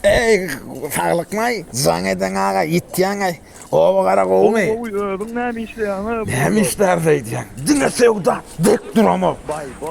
Eý, saglykmaý, jaň eden aga, ýitýäňaý. Oba gara gowumy? Gowy, özüň näme işleýäňä? Näme işläris aýdýaň? Diňe söwda, dek duramok.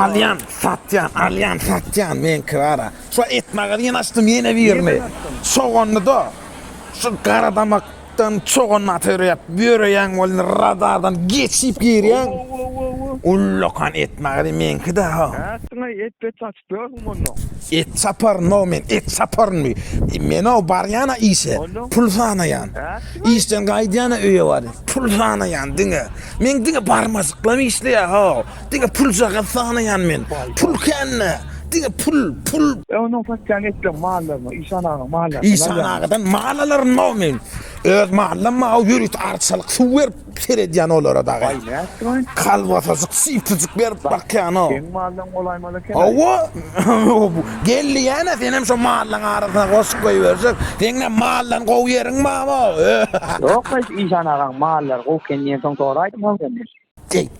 Alýan, satýan, alýan, satýan, meňki bara. Şu et magazyny açdym ýene birini. Çogandy-da. Şu garadamakdan çogan aty örýäp, ýöreýän boldy, radardan geçip girýän. Ullakan et magazy meňki-dä. Nätdiňaý, et-bet aç. Dörgüm onnoň. Et saparynda-ow men, et saparynmy? Men-ow barýan-a işe, pul sanaýan. Işden gaýdýan-a öýe baryp, pul sanaýan diňe. Men diňe barmajyklam işleýär-ow. Diňe puljagaz sanaýan men. Pul kände, diňe pul, pul. E onnoň satýan etleň mallaryny, Işan agaň mallaryndan alýarmyň? Işan agadan mal alaryn-ow men. Öz mallam bar-ow, ýörite arçalyk suw berip, Seredýän olara dagy. Baý nätdiňoý? Kalbasajyk sypjyjyk berip bakýano. Seň maldan golaýmaz eken. Hawa. Geldi ýäne senem şo mallaň arasyna goşup goýberjek. Seňem maldan gowy ýeriň barmo? Ýok, Işan agaň mallary gowy eken diýensoň soraýdym-ow senden. Deý.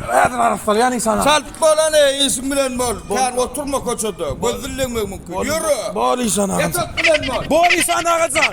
Nädip aryp barýan insan? Çalt bolan e, işiň bilen bol. Kän oturma köçede. Göz dillemek mümkin. Ýöre. Bor işan agajan. Ýatak bilen bol. Bor işan agajan.